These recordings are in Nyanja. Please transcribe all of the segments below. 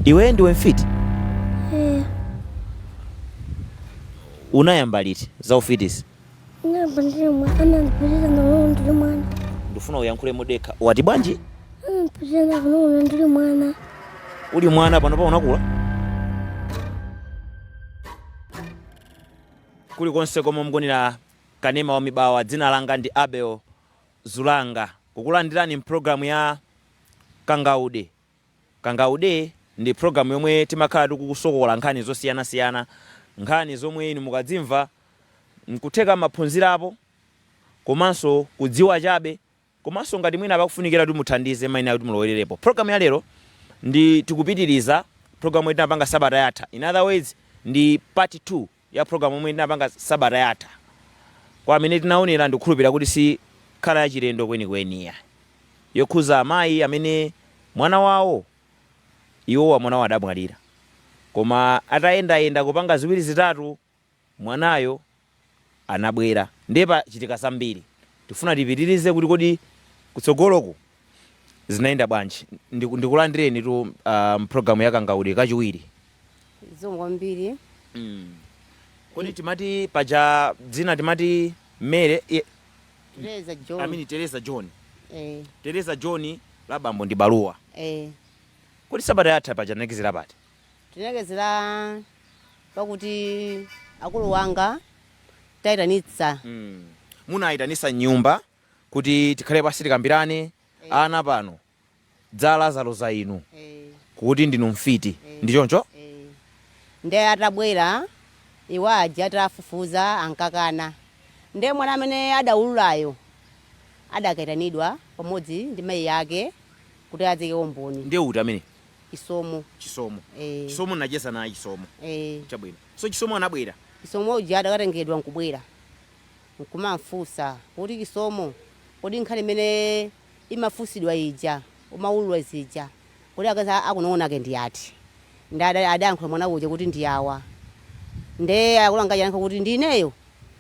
Iweyo ndiwe mfiti? Eh, Unayamba liti za ufitizi? ndinayamba ndili mwana, anandipitiriza ndikunono ndili mwana. Ndifuna uyankhule modekha. Wati bwanji? Anandipitiriza ndikunono ndili mwana. Uli mwana panopa unakula? Kulikonse komwe mukuonera kanema wa mibawa, dzina langa ndi Abel Zulanga. Kukulandirani mpulogalamu ya Kangaude Kangaude ndi program yomwe timakhala tikukusokola nkhani zosiyana siyana, nkhani zomwe inu mukadzimva nkutheka mwaphunzirapo komanso kudziwa chabe komanso ngati mwina pakufunikira kuti muthandize mayenera kuti mulowererepo. Program ya lero ndi tikupitiriza program yomwe tinapanga sabata yatha, in other words ndi part 2. ya program yomwe tinapanga sabata yatha kwa amene tinaonera ndikukhulupirira kuti sikhala yachilendo kwenikweni ya yokhuza amayi amene mwana wawo iwowa mwana wawo adamwalira koma atayendayenda kupanga ziwiri zitatu mwanayo anabwera ndiye pachitika zambiri tifuna tipitirize kuti kodi kutsogoloku Zinayenda bwanji? Ndiku- Ndikulandireni tu ah, mpulogalamu ya Kangaude kachiwiri. zikomo kwambiri Kodi timati paja dzina timati Mary eh, Tereza John amini Teresa John. eh Teresa John la bambo ndi Baluwa. eh Kodi sabata yatha paja tinalekezera pati? tinalekezera pakuti akulu anga tawaitanitsa Mm. Munayitanisa nyumba kuti tikhale pansi tikambirane Eh. ana pano dzala zaloza inu Eh, kuti ndinu mfiti Eh. ndi choncho eh. nde atabwera iwo aja atafufuza ankakana nde mwana amene adaululayo adakaitanidwa pamodzi ndi mayi ake kuti adzaike umboni ndiye uti amene chisomo chisomo eh, chisomo nacheza naye chisomo eh. chabwino so chisomo anabwera chisomo uja adakatengedwa nkubwera nkumamfunsa kuti Chisomo kodi nkhani imene imafunsidwa ija umaulula zija kodi akazi akunong'ona ake ndi ati? Nde ada adayankhula mwana uja kuti ndi awa. Nde akulu anga aja anayankha kuti ndi ineyo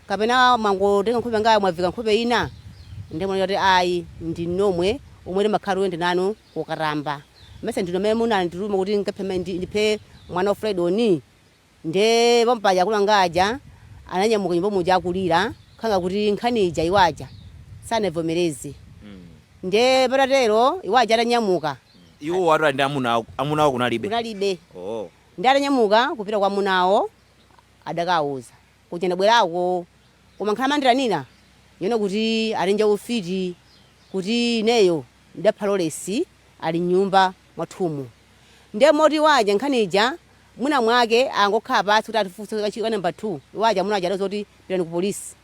kapena mwangotenga nkhope yanga mwaviika nkhope ina? Nde mwana uja anati ayi ndinu nomwe omwe timakhala tikuyenda nanu kokatamba. Mesa ndinu amene munandituma kuti ndikaphe ndiphe mwana wa Fulaidoni? Ndiye pomwe paja akulu anga aja ananyamuka nyumba muja akulira khanga kuti nkhani ija iwo aja sanaivomereze. Ndiye patatero iwo aja atanyamuka. Iwowo atali ndi amuna awo, amuna awo kunali? Kunalibe. Oho. Ndiye atanyamuka kupita kwa amuna awo adakawauza. Kuja ndabwerako. Koma nkhani amandiitanira yonena kuti atenja ufiti kuti ineyo ndidapha Lolesi ali m'nyumba. mwathumu. Ndiye moti iwo aja nkhani ija mwina mwake angokhala pansi kuti atifunse kachiwiri ka number 2, iwo aja amuna aja adauza kuti pitani ku polisi.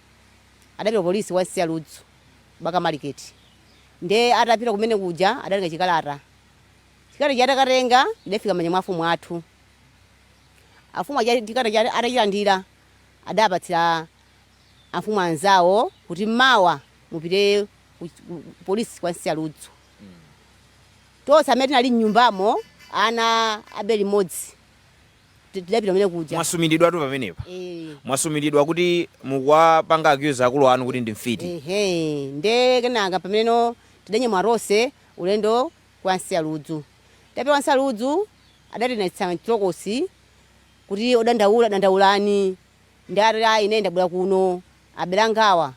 Adapita ku polisi ya Nsaludzu, Bakamariketi. Ndiye atapita kumene kuja adatenga chikalata. Chikalata chija atakatenga chidafika m'manja mwa afumu athu. Afumu aja chikalata chija atachilandira adapatsira afumu anzawo kuti mawa mupite ku, ku, ku polisi kwa Nsaludzu. Tonse amene tinali m'nyumbamo, ana abere limodzi, ti- tidapita kumene kuja. mwasumiridwatu pamenepa Eh. mwasumiridwa kuti mukuwapanga accuse akulu anu kuti ndi mfiti Ehe, nde kenaka pameneno tidanyamula tonse ulendo kwa nsiya ludzu tapita kwa nsiya ludzu adatilowetsa mchitokosi kuti odandaula dandaulani ndati ayi ine ndabwera kuno abale angawa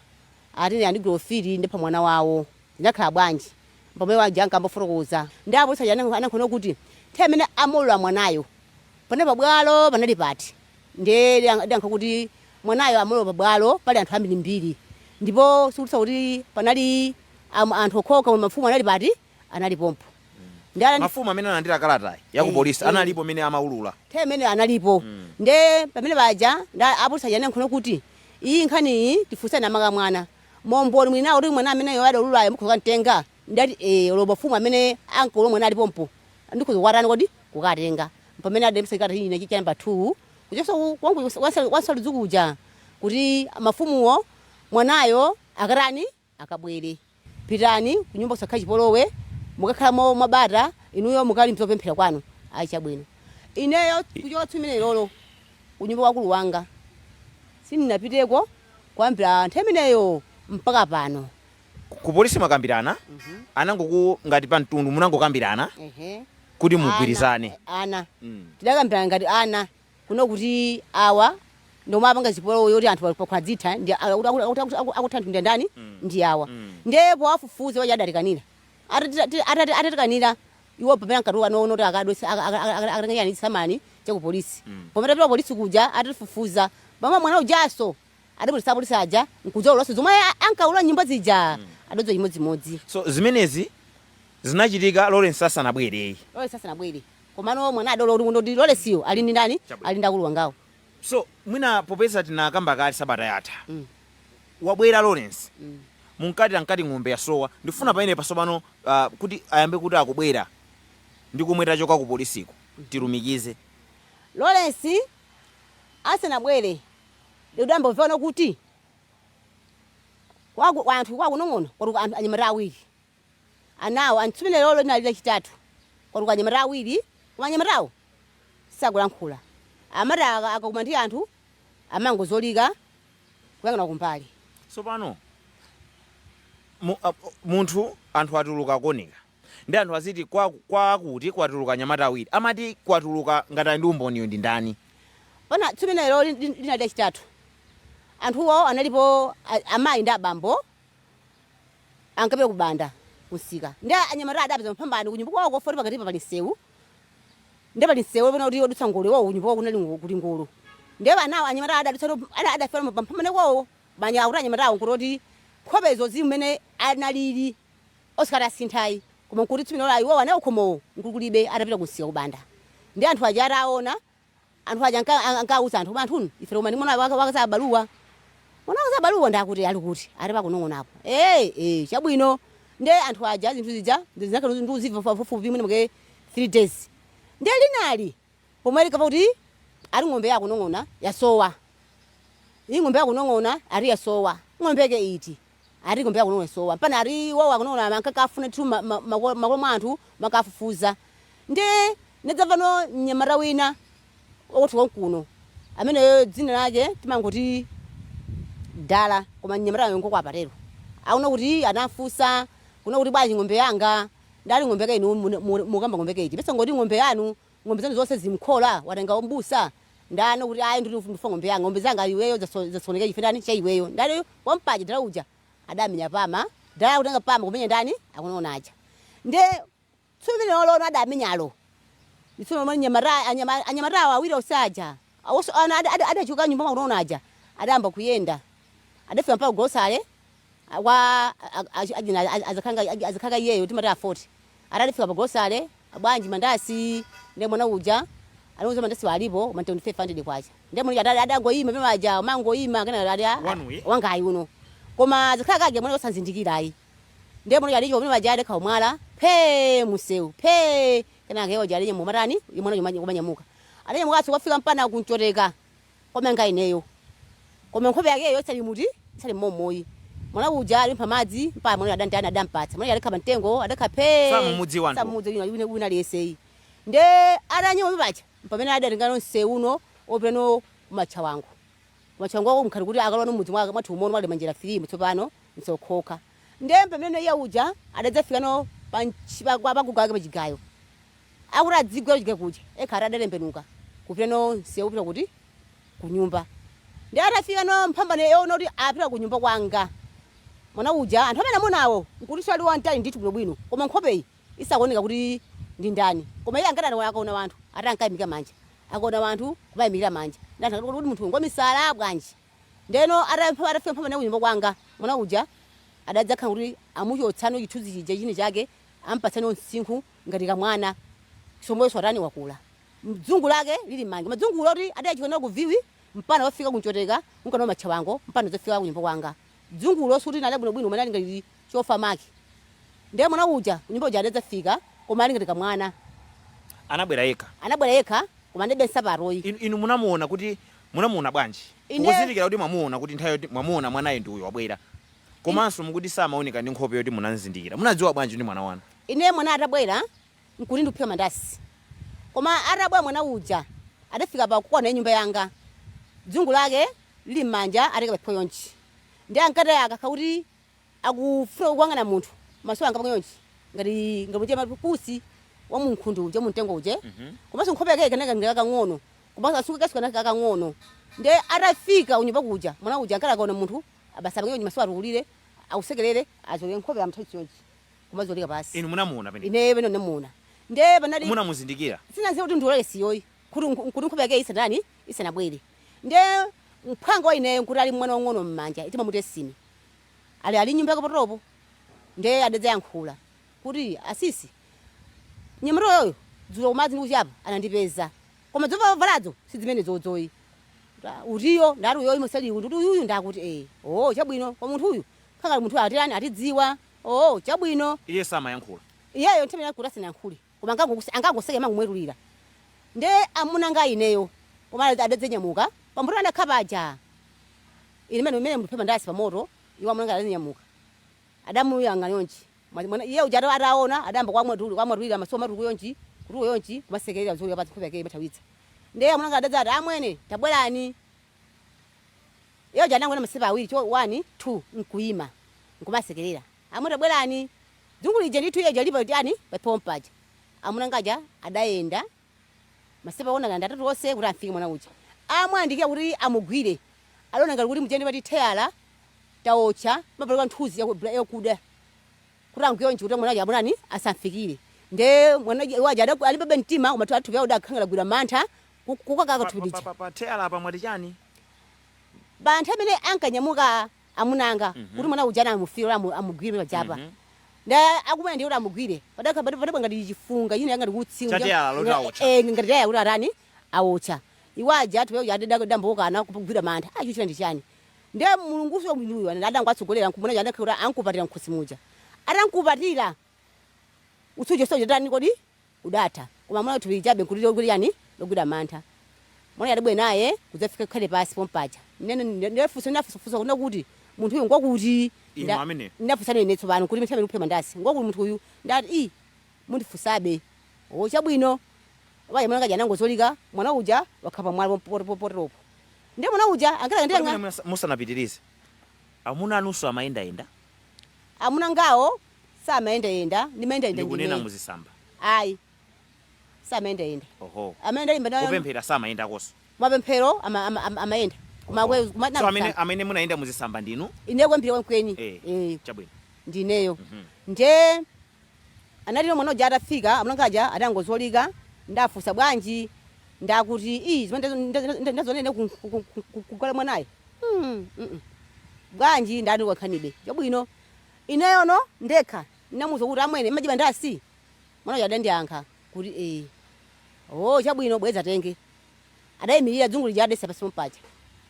ati andigwira ufiti ndapha mwana wawo zinakhala bwanji Pomwe iwo aja ankandifotokoza, ndiye apolisi aja anayankha nawo kuti, Nthawi imene amaulula mwanayo, panali pabwalo panali pati? Ndiye adayankha kuti, Mwanayo amaulula pabwalo pali anthu ambirimbiri, ndipo sikuti kuti panali anthu okhaokha, koma mafumu anali pati? Anali pompo. Ndiye adati. Mafumu amene analandira kalatayi ya kupolisi analipo pamene amaulula? Nthawi imeneyo analipo. Ndiye pamene paja, ndiye apolisi aja anayankha nawo kuti, Iyi nkhaniyi tifunseni amake mwana. Mboni mwina kuti mwana ameneyo adaululayo mukhoza kukamtenga? Ndidati ee, olo mafumu amene ankaulula mwanayo ali pompo ndikhoza kukatani kodi? kukatenga. Mpamene adandipatsa chikalata china cha namba 2 kuchosa konkuja kwa nsa kwa nsaludzu kuja kuti mafumuwo mwanayo akatani? akabwere. Pitani kunyumba kusakhale chipolowe, mukakhale mwabata, inuyo mukali mkupemphera kwanu. Ayi chabwino. Ineyo kuchoka tsiku limenelolo kunyumba kwa akulu wanga sindinapiteko. kuyambira nthawi imeneyo mpaka pano. Ku polisi mwakambirana? Anangoku ngati pa mtundu munangokambirana Ehe. kuti mugwirizane? Ana. Mm. Tidakambirana ngati ana kuno kuti awa ndomwe apanga zipolowe yoti anthu ali pakwadzitha ndi a- akuti- akuti- akuti- akuti- akutha anthu ndi ndani ndi awa. Ndiye powafufuza aja adatikanira. Atati- atati- Atatikanira Iwo pamene ankatuluka nkuti akadwetse aka- aka- aka- akatenga chani chisamani cha ku polisi pomwe tapita ku polisi kuja atifufuza paja mwana ujanso adabweretsa apolisi aja nkudzaululanso zomwe a- ankaulula kunyumba zija adodziwa chimodzimodzi so zimenezi zinachitika lawrence asanabwereyi lawrence asanabwere komano mwana adaulula kuti ndithu lawrence yo ali ndi ndani ali ndi akulu wangawo So mwina popeza tinakamba kale sabata yatha wabwera Lawrence munkati munkati ng'ombe yasowa ndikufuna pamenepa tsopano ah, kuti ayambe kuti akubwera ndi komwe tachoka ku polisiko tilumikize Lawrence asanabwere ndidangomva kuti kwaku- kwa anthu kwakunong'ono kwatuluka anthu anyamata awiri Ana awo tsiku limenelolo linali lachitatu kwatuluka anyamata awiri koma anyamatawo sakulankhula amati akakumana ndi anthu amangozolika kuyang'ana kumbali. Sopano mu, a, munthu anthu atuluka kuoneka ndi anthu aziti kwa, kwa kuti kwatuluka anyamata awiri amati kwatuluka ngati ali ndi umboniyo ndi ndani? Pana tsiku limenelolo linali lachitatu anthuwo analipo amayi ndi abambo ankapita ku Banda kumsika nde anyamata adapeza mphambano kunyumba kwawo kofoti pakatipa pali msewu nde pali msewu pena kuti odutsa ngolo iwawo kunyumba kwawo kunali ngo- kuli ngolo nde anawo anyamata adadutsa adafera pamphambano kwawo banya akuti anyamatawo nkuti kuti nkhope izo zimene analili osikati asintha ayi koma nkuti tsiku limenelolo iwowo anawo khomowo nkuti kulibe atapita kumsika ku Banda ndi anthu aja ataona Anthu aja anka- an- ankawuza anthu koma anthunu ife koma ndimona waka- wakaza abaluwa mwana wakaza abaluwa ndi akuti ali kuti ati pa Kunong'ona apo ee ee chabwino nde anthu aja zinthu zija zinakhala ndi uziva pafupi mwina mwake 3 days nde linali pomwe likapa kuti ati ng'ombe ya Kunong'ona yasowa iyi ng'ombe ya Kunong'ona ati yasowa ng'ombe yake iti ati ng'ombe ya Kunong'ona yasowa mpana ati iwowo a Kunong'ona ankakafuna ndithu ma- ma- mako- makola mwa anthu makafufuza ndi ndidzamva no mnyamata wina wakwathu konkuno ameneyo dzina lake timangoti Dala koma mnyamatayo ngoko apatero aona kuti anafusa kuna kuti bwanji ng'ombe yanga nde ali ng'ombe yake inu mukamba ng'ombe yake iti mesa ngoti ng'ombe yanu ng'ombe zanu zonse zili mkhola? Watengawo mbusa ndani kuti ayi ndili ndifuna ng'ombe yanga ng'ombe zanga iweyo zaso, zasokonekera chifukwa ndani cha iweyo ndani wampaja Dala uja adamenya pama Dala kutenga pama kumenya ndani a Kunong'ona aja nde tsiku limenelolo adamenyalo ndi tsiku lomwe nyamata anyama, anyamatawo awiri onse aja awonso ana ada- ada- adachoka m'nyumba mwa Kunong'ona aja adayamba kuyenda adafika mpaka golosale a kwa a- a- a- achina a- azikhanga a- azikhanga iyeyo timati a 40 atalifika pa grocery bwanji mandasi ndiye mwana uja anauza mandasi alipo koma ndi 500 kwacha ndiye mwana uja adali- adangoyima pamene aja kumangoyima kena ali a- Wanu uyi? wangayi uno koma azikhanga aja mwana osamzindikira ayi ndiye mwana uja alichoka pamene aja adakha umwala phe mumsewu phe kenaka iwo aja alinye mumatani mwana uja kumanyamuka alinyamukanso kukafika mpana ku Mchoteka koma nga ineyo koma nkhope yakeyo isali muti isali momo ayi mwana uja alipempha madzi mpaka mwana adamtani adampatsa mwana alikha pa mtengo adakha phe Samumudziwa anthu. samudziwa wina wina aliyense ayi nde atanyima mipacha mpamene adatengano msewu uno opitano kumatchawango kumatchawango ako mkhati kuti akalowano m'mudzi mwake mwathu momuno mwali manjira filimu tsopano msokhoka Ndiye pamene iye uja adadzafika nawo pa ntchi- pa- kwa- paguga wake pachigayo akuti adziguwira kuchigayo kuja ekha ati adatembenuka kupita nawo msewu upita kuti kunyumba ndiye atafika nawo mphambano yoona kuti apita kunyumba kwanga mwana uja anthu amene amuonawo nkutinso ali wamtali ndithu bwinobwino koma nkhopeyi isakuoneka kuti ndi ndani koma iye ankati ata- akaona wanthu ati ankayimika manja akaona wanthu kumayimikira manja ndi anthu akati kodi munthu uyu ngwamisala bwanji Ndeno atafika mpaka na kunyumba kwanga, mwana uja adadzakhala kuti amuchotsano chithunzi chija chini chake ampatsano msinkhu ngati kamwana chomweso atani wakula. Dzungu lake lili mmanja. Madzungulo oti adachoka nao ku Viwi mpana wafika ku Nchoteka kumka nao Matchawango mpana kudzafika kunyumba kwanga. Dzungulo sikuti linali bwino bwino koma linali ngati chofa maki. Nde mwana uja kunyumba kuja adadzafika koma ali ngati kamwana. Anabwera yekha? Anabwera yekha koma analibe nsapato yi. Inu, inu munamuona kuti munamuona bwanji? Ine. Kuzindikira kuti mwamuona kuti nthawi yoti mwamuona mwanayo ndi uyo wabwera. Komanso mukuti samaoneka ndi nkhope yoti munamzindikira. Munadziwa bwanji ndi mwana wanu? Ine mwanayo atabwera nkuti ndikuphika mandasi. Koma atabwera mwana uja adafika pa kona ya nyumba yanga. Dzungu lake lili m'manja atayika paphewa chonchi. Ndiye ankati akakhala kuti akufuna kuyang'ana munthu maso anga pa chonchi ngati ngati muchitira pusi wa munkhundu uje mumtengo uje komanso nkhope yake ikanaka ngati kakang'ono komanso asuke kaso kanaka kakang'ono nde atafika unyumba kuja mwana uja ankati akaona munthu abasa pang'ono nji maso atukulire asekelere azolike nkhope amthawi chonji kumazolika pansi inu munamuona pomwe ine pano namuona nde panali munamuzindikira sinaziwa kuti ndi Lawrence yoyi kuti nku- kuti nkhope yake isanani isanabwere nde mphwanga wa ineyo nkuti ali mwana wang'ono m'manja itima mutesini ali ali nyumba yake potopo nde adadzayankhula kuti asisi mnyamata uyoyo dzulo kumadzi ndikuchapa anandipeza koma dzova ovaladzo sidzimenedzo iyayi utiyo ndati uyoyi musali kuti uyuyu ndakuti ee oo chabwino koma munthu uyu akakhala munthu atirani atidziwa oo chabwino iye samayankhula iyeyo nthawi yakuti asinayankhule koma angangokusi angangoseke mangomwetulira nde amuna anga ineyo pomwe adadzanyamuka pamoto anakhala paja ine mmene mmene ndimaphika mandasi pamoto iwo amuna anga adanyamuka adamuyang'ana chonchi mwa- mwana iye uja ata- ataona adayamba kumwetuli kumwetulira maso kutukula chonchi kutukula chonchi kumasekerera zolika pansi nkhope yake kumathawitsa nde amuna anga adadzati amwene tabwerani iye uja anangoyenda masitepe awiri cho 1 2 nkuima nkumasekerera Amwene tabwerani. Dzungu lija ndithu iye uja alipa tani paphewa paja. Amuna anga aja adayenda masitepe okwana ngati atatu onse kuti amfike mwana uja. Amuyandikira kuti amugwire adaona ngati kuti muja ndimati teyala taotcha pamapeleka nthunzi ya yakuda kuti amgwire chonchi kuti mwana uja amutani asamfikire. Nde mwana uja iwo aja ada alimbabe mtima koma thupi awo adakhala ngati agwidwa mantha ku kukakaka Pa thupi pa lija. pa pa teyala apa mwati chani? Pa nthawi imene ankanyamuka amuna anga kuti mwana uja anamufira kuti amu- amugwire pajapa nda akumana ndiye kuti amugwire padakha pati pati pangati chifunga china ngati utsi Ngati tayala loti aotcha. eh ngati taya kuti atani aotcha iwo aja ati peuja ati dambokana kugwira mantha acho china ndi chani nde Mulunguso mwiniyo adangowatsogolera nkumuna cha adakha kuti ankupatira mkhosi muja atankupatira utsi uja sojo tani kodi udatha, koma amuna thupi chabe nkuti lokuti chani logwira mantha. Mwana uja adabwera naye kudzafika khale pansi pompaja. Nene nde- nde funso ndinafunsa funso kunena kuti munthu uyu ngwakuti? Inu Nda- amene? Ndinafunsana ine tsopano kuti nthawi imeneyi nkuphika mandasi. Ngwakuti munthu uyu? Ndati i mundifunsabe. O chabwino. Wayi amuna anga aja anangozolika mwana uja wakhala pamwala pompoto pompotopo. Ndiye mwana uja Kodi mwina ankatenga munas- musanapitirize amuna anunso amayendayenda amuna angawo samayendayenda ndimayendayenda ndikunena ndine muzisamba ayi samayendayenda oho amene ndalimba nayo kupemphera samayendakoso mapemphero ama- ama- ama- amayenda koma Oho. kwe- koma so amene, amene munayenda muzisamba ndinu ine kwambiri kwenikweni eh, eh chabwino ndineyo Mhm. nde analino mwana uja atafika amuna anga aja adangozolika ndafunsa bwanji ndakuti ii zimene ndazo- ndazo- ndazo- ndaziona ine ku- ku- ku- ku- ku- kugwala mwanayo Hmm, mm-mm. bwanji ndati wakhanibe chabwino Ineyono ndekha ndinamuuza kuti, Amwene, mmadya mandasi? Mwana uja adandiyankha kuti, Eee. Ooo, chabwino, bwera dzatenge. Adayimirira, dzungu lija adaisiya pansi pompaja.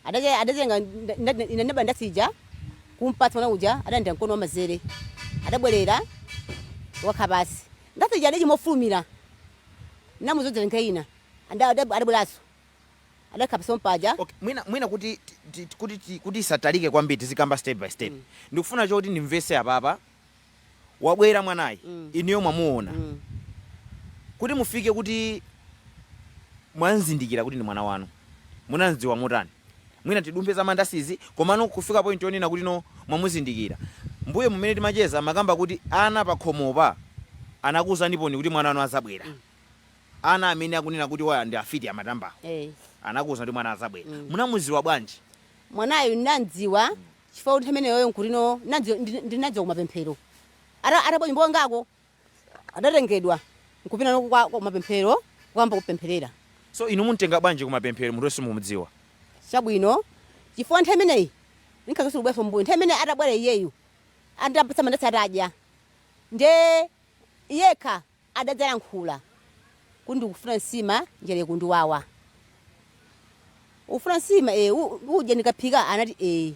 Adacha, adatenga, nda, nda, ine ndinaba ndasi ija kumpatsa mwana uja, adalandira mkono wamanzere. Adabwerera kukakhala pansi. Ndasi ija adaidya mofulumira. Ndinamuuza kuti, Dzatenge ina. Nda, nda, adabweranso. adakhala pansi pompaja Okay, mwina mwina kuti ti- ti- kuti ti- kuti isatalike kwambiri tizikamba step by step. Mm. Ndikufuna choti ndimvese apapa. Wabwera mwanayu, Mm. inuyo mwamuona. Mm. Kuti mufike kuti mwamzindikira kuti ndi mwana wanu. Munamziwa motani? Mwina tidumphe za mandasizi komano kufika point yonena kuti no mwamuzindikira. Mbuyomu mmene timacheza mumakamba kuti ana pakhomopa anakuuzaniponi kuti mwana wanu azabwera. Ana amene akunena kuti awa ndi afiti amatambawo Eh. anakuwuza kuti mwana azabwera. Munamuziwa bwanji? Mwanayu ndinamdziwa chifukwa kuti nthawi imeneyoyo nkutino ndinadziwa- ndi- ndinadziwa kumapemphero Ata- atabwera nyumba kwangako adatengedwa nkupita nako kwa- kwa mapemphero kuyamba kupempherera So inu mumtenga bwanji kumapemphero munthu simukumudziwa? chabwino chifukwa nthawi imeneyi ndinkhakasulu kubwereranso mmbuyo nthawi imeneyi atabwera iyeyu ndampatsa mandasi atadya nde yekha adadzayankhula kuti ndikufuna nsima njala ikundiwawa ukufuna nsima e, udya ndikaphika anati e,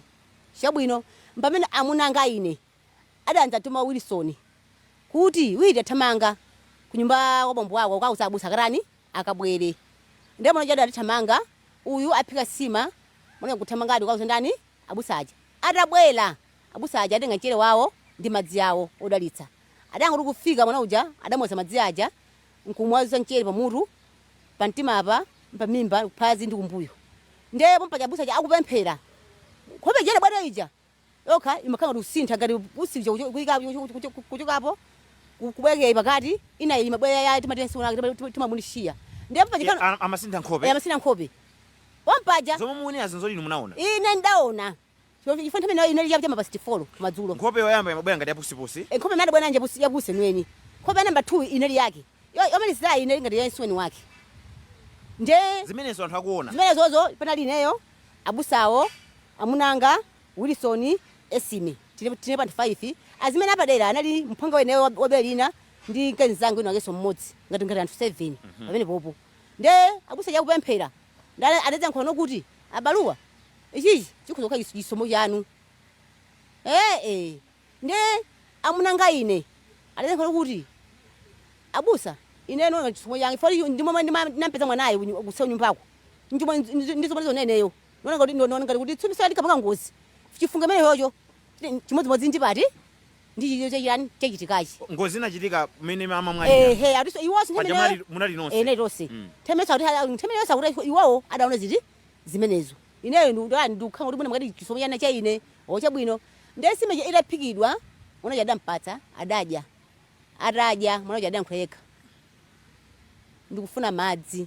chabwino mpamene amuna anga ine adadzatuma wilson kuti witi thamanga kunyumba kwa bambo wako kukauza abusa akatani akabwere ndiye mwana uja adathamanga uyu aphika nsima mwana kuthamangadi kukauza ndani abusa aja atabwera abusa aja atenga mchere wawo ndi madzi awo odalitsa Adangoti kufika mwana uja adamuwaza madzi aja nkumwaza mchere pamutu, pamtima apa, pamimba, kuphazi ndi kumbuyo. Ndiye pompaja abusa aja akupemphera. Nkhope ija idabwata ija yokha imakhala ngati kusintha ngati usi uja kucho- kuika- kucho- kucho- kucho- kuchokapo ku- kubwereka iyi pakati ina iyi imabwera ya timatensi unake tima- tima- timamunishiya. Ndiye pompaja Ya, kana- a- amasintha eh, nkhope amasintha nkhope. Pompaja zomwe mukunenazi nzoti inu munaona ine ndaona chifukwa nthawi imeneyo inali cha mapasiti folo madzulo. Nkhope yoyamba imabwera ngati yapusipusi. Nkhope imene anabwera nayo ndi yapusi yeniyeni. Nkhope ya namba 2 inali yake. Yomalizirayi inali ngati ya msuweni wake. Ndiye. Zimenezo anthu akuona. Zimenezozo panali ineyo, abusawo, amuna anga, Wilisoni, Esime. Tinalipo anthu 5. Azimene apadera anali mphwanga weniweni wa bere lina ndi mkazi mnzanga wina wakenso mmodzi, ngati anthu 7 pamenepopo. Ndiye abusa aja akupemphera. Nde anadzayankhula nao kuti, Abaluwa, ichichi chikhoza kukhala chis- chisomo chanu? Ee, ndi amuna anga ine adadzayankhula nao kuti, Abusa, ineyo ndi chisomo changa chifukwa ichi ndi momwe ndima- ndinampeza mwanayu kunyu- kuseri kwa nyumbako. Nchomwe ndi- ndi- ndi zomwe ndizionera ineyo. Ndiona ngati- ndiona ngati kuti tsupi sala linkapanga ngozi. Chifunga chimenechocho ndi chimodzimodzi ndi pati? ndi chi- cha chiyani chachitikachi ngozi inachitika kumene mayi amamwalira ehe atinso iwonso paja nthawi imene munali- munali nonse ene tonse Mm. themenesa kuti ala- nthawi imene yonse akuti iwowo adaona ziti zimenezo ineyo ndani ndikukhala kuti mwina mwakati chisomo chana cha ine o chabwino ndiye nsima cha- itaphikidwa mwana uja adampatsa adadya atadya mwana uja adayankhula yekha ndikufuna madzi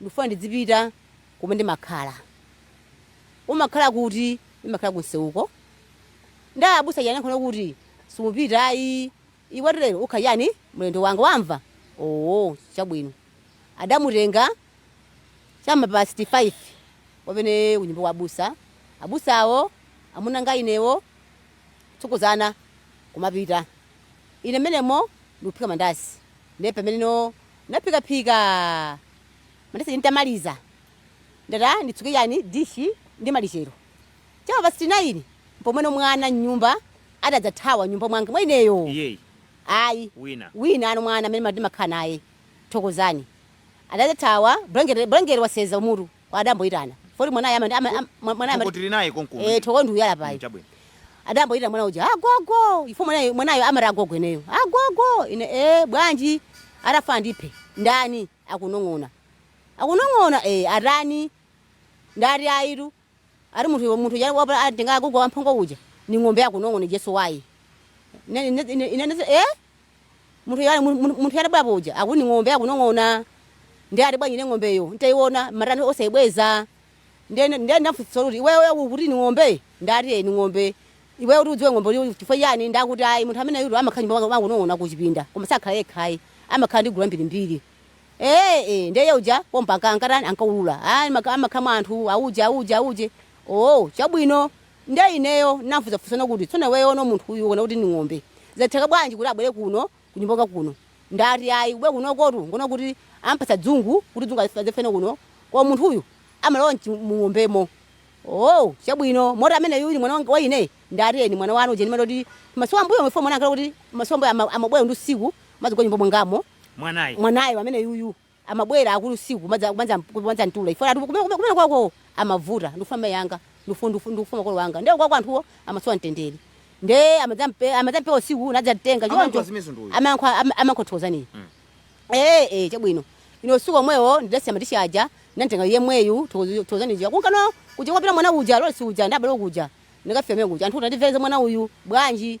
Ndikufuna ndizipita kumene ndimakhala. Umakhala kuti? Ndimakhala kumseuko. Nde abusa aja anayankhula kuti, Simupita ayi, iwe lero ukhala chani? Mlendo wanga wamva? Owo, chabwino. Adamutenga cha ma past 5 wamene kunyumba kwa abusa. Abusawo, amuna anga inewo, kutsogozana kumapita. Ine mmenemo ndikuphika mandasi. Nde pamene no Naphikaphika mandasi ntamaliza ndati nditsuke chani dishi ndi malichero. Cha ma pasiti nayini mpomweno mwana m'nyumba adadzathawa m'nyumba mwanga mwa ineyo Iyeyi? ayi Wina? winanso mwana amene ndimakhala naye Thokozani adadzathawa bulangete bulangete wasenza kumutu. adamboyitana poti mwanayo ama- ama- ama- mwa- mwanayo ama- Thoko tili naye konkuno. eh, Thoko ndi uyu Mm, payi chabwino. adamboyitana mwana uja agogo ifo mwanayo mwanayo amati agogo eniyo agogo ine eh, bwanji atafa ndiphe ndani akunong'ona akunong'ona eh, atani ndati ayitu ati munthu munthu uja wapa- atenga agogo wamphongo uja ni ng'ombe akunong'ona jesu wayi Ine- ine- ine- ine- ine- eh, Munthu yale mun- mun- munthu yale bwapo uja akuti ni ng'ombe akunong'ona ndati bwanji ne ng'ombeyo ntaiona matani osaibweza ndiye ndiye ndamfunsitsa kuti iweyo ukuti ni ng'ombe ndati "Eh, ni ng'ombe iweyo kuti udziwe ng'ombe kuti chifukwa chani nde akuti ayi munthu ameneyutu amakhala nyumba mwanu akunong'ona kuchipinda koma sakhala yekha ayi amakhala ndi gulu lambirimbiri ee ee ndiye uja pompa ankatani ankaulula ayi maka- amakhala mwa anthu auja auja auje oo chabwino Ndiye ineyo ndinamfunsa funso lina kuti, Tsono iweyono munthu uyu ukuona kuti ndi ng'ombe, zatheka bwanji kuti abwere kuno kunyumba kwanga kuno? Ndati, Ayi, kubwera kunokotu n'kuona kuti amupatsa dzungu kuti dzungu adzafe nalo kuno, koma munthuyu amalowa m'chi, mung'ombemo. Oo, chabwino, moti ameneyu ndi mwana wang, wa ine? Ndati, Ee, ndi mwana wanu, uja ndimati kuti masiku ambuyomu chifukwa mwana ankati kuti masiku ambuyo ama, amabwera ndi usiku, amadzagona m'nyumba mwangamo, Mwanayu. mwanayu ameneyu. amabwera akulu usiku kumadza kumadza kumadza mtula chifukwa ati kumene kumene kumene kwaoko amavuta ndikufuna mayi anga ndikufuna ndikufuna ndikufuna makolo anga ndiye kwaoko anthuwo amasowa mtendere ndiye amadzampe amadzampereka usiku nadzamtenga Amayankha choncho zimenezo ndi uyu. amayankho ama- amayankho thokozaniyo eh eh chabwino ino usiku omwewo ndidasiya matishi aja namtenga yemweyu thokozaniyo kumka naye kuja kwapita mwana uja lolesi uja ndabale kuja ndikafika mene kuja anthu mutandipezera mwana uyu bwanji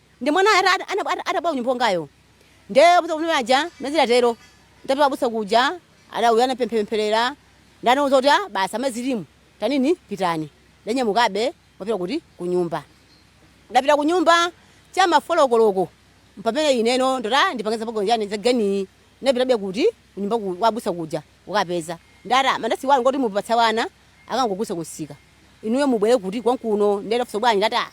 Nde mwana ata- ata- ana- ata- atabwera kunyumba kwangayo nde abusa kumene aja mazila atero ndapita abusa kuja ana uyo anapemphepempherera ndanauza kuti "Ah, basi amai inu tanini pitani ndanyamukabe kupita kuti kunyumba ndapita kunyumba cha mafolokoloko mpamene ineno ndota ndipangeza pagonjani zangani ndapitabe kuti kunyumba ku- kwa abusa kuja ukapeza ndata mandasi wanu ngoti mupatsa wana akagulitse kumsika inuyo mubwere kuti kwanga kuno nde ndafunsa bwanji ndata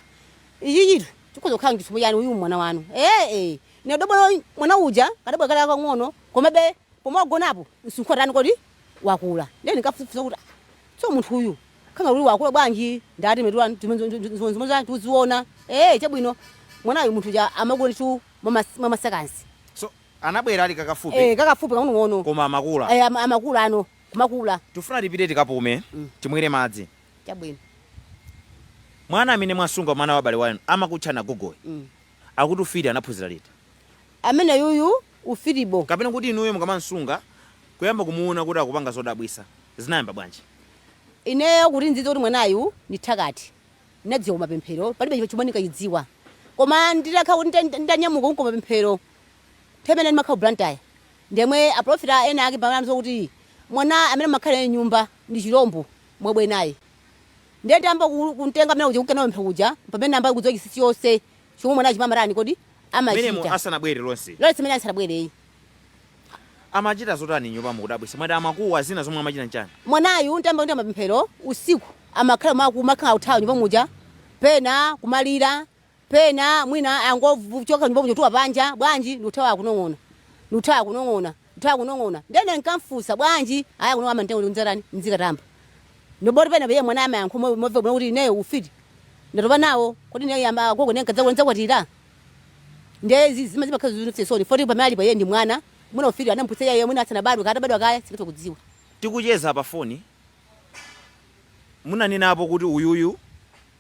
Ichi chinthu chikhoza kukhala chisomo chani uyu mwana wanu ee ne dobolo mwana uja kadabwera kali kakang'ono komabe pomagonapo msinkhu watani kodi wakula ndiye ndinkafunsa kuti tso munthu uyu khanga kuti wakula bwanji ndati mmetu wanu zimenezo za tuziona ee chabwino mwanayu munthu uja amakula ndithu mwa maseconds so anabwera ali kakafupi ee kakafupi kang'onong'ono koma amakula ee amakula ano kumakula tifuna tipite tikapume timwere madzi Chabwino. Mwana amene mwamsunga mwana wa m'bale wanu amakutchani agogoyo Mm. akuti ufiti anaphunzira liti? Ameneyuyu ufitiwo. Kapena kuti inuyo mukamamsunga kuyamba kumuona kuti akupanga zodabwisa zinayamba bwanji? Ineyo kuti ndidziwe kuti mwanayu ndi mthakati ndinadziwa ku mapemphero palibe chomwe ndinkachidziwa koma nditakhala kuti ndita- nditanyamuka kunka ku mapemphero nthawi imene ndimakhala ku Blantyre ndiyemwe apulofita ena ake pamene anamva kuti mwana amene amakhala naye m'nyumba ndi chilombo mubwere naye ndiye nditayamba ku- kumtenga mwana uja kunka naye ku mapemphero kuja pamene ndinayamba kudziwa chinsinsi chonse chomwe mwanayu chima- amatani kodi mmene amachita asanabwere lonse lonse mmene asanabwereyi amachita zotani m'nyumba mokudabwitsani mwati amakuwa zina zomwe amachita nchani mwanayu nditayamba ndi mapemphero usiku amakhala ma- kumakhala akuthawa m'nyumba muja pena kumalira Pena mwina angochoka m'nyumba muja kuthawa panja bwanji ndikuthawa akunong'ona ndiye ine nkamfusa bwanji ayi akunong'ona amanditenga kuti ndizikatani ndzikatamba ndiye poti pena iye mwana amayankha momveka bwino kuti ineyo ufiti ndatopa nawo kodi ineyo yamba agogo ndiye nkadzakula ndidzakwatira ndiye izi zima zimakhala zomvetsa chisoni poti pamene alipo iye ndi mwana mwina ufiti anamphunzitsa iye mwina asanabadwe kaya atabadwa kaya sindingathe kudziwa Tikucheza pafoni, munanenapo kuti uyuyu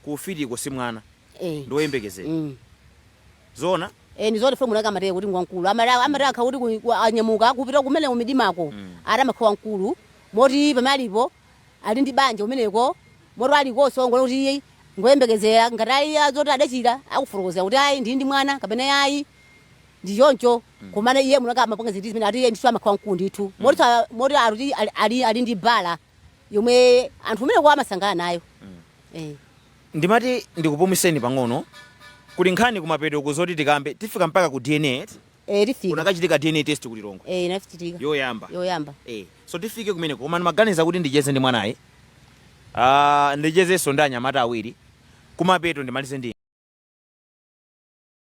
Ku ufitiko si mwana Eh. ndi woyembekezera. Mm. Zoona? Eh ndi zoti phomula kama teye kuti ngwa mkulu. Amara Mm. amara akakhala kuti ku- ku- anyamuka kupita kumene kumidimako. Mm. Amati amakhala wamkulu. Moti pamene alipo ali ndi banja kumeneko. Moti ali koso ngolo kuti iye ngoyembekezera ngati ayi azoti adachira akufurukozera kuti ayi ndi ndi mwana kapena ayi. Ndi choncho. Komano iye munaka amapanga zinthu zimene ati iye ndicho amakhala wamkulu ndithu. Moti sa- moti akuti ali ali ndi bala. yomwe anthu kumeneko amasangalala nayo eh. ndimati ndikupumiseni pang'ono kuli nkhani kumapeto ku zoti tikambe tifika mpaka ku DNA eti? Eh, tifika kunakachitika DNA test ku Lilongwe eh, inachitika yoyamba yoyamba eh. so tifike kumeneko koma ndimaganiza kuti ndicheze ndi mwanayu Ah, ndichezenso ndi anyamata awiri kumapeto ndimalize ndi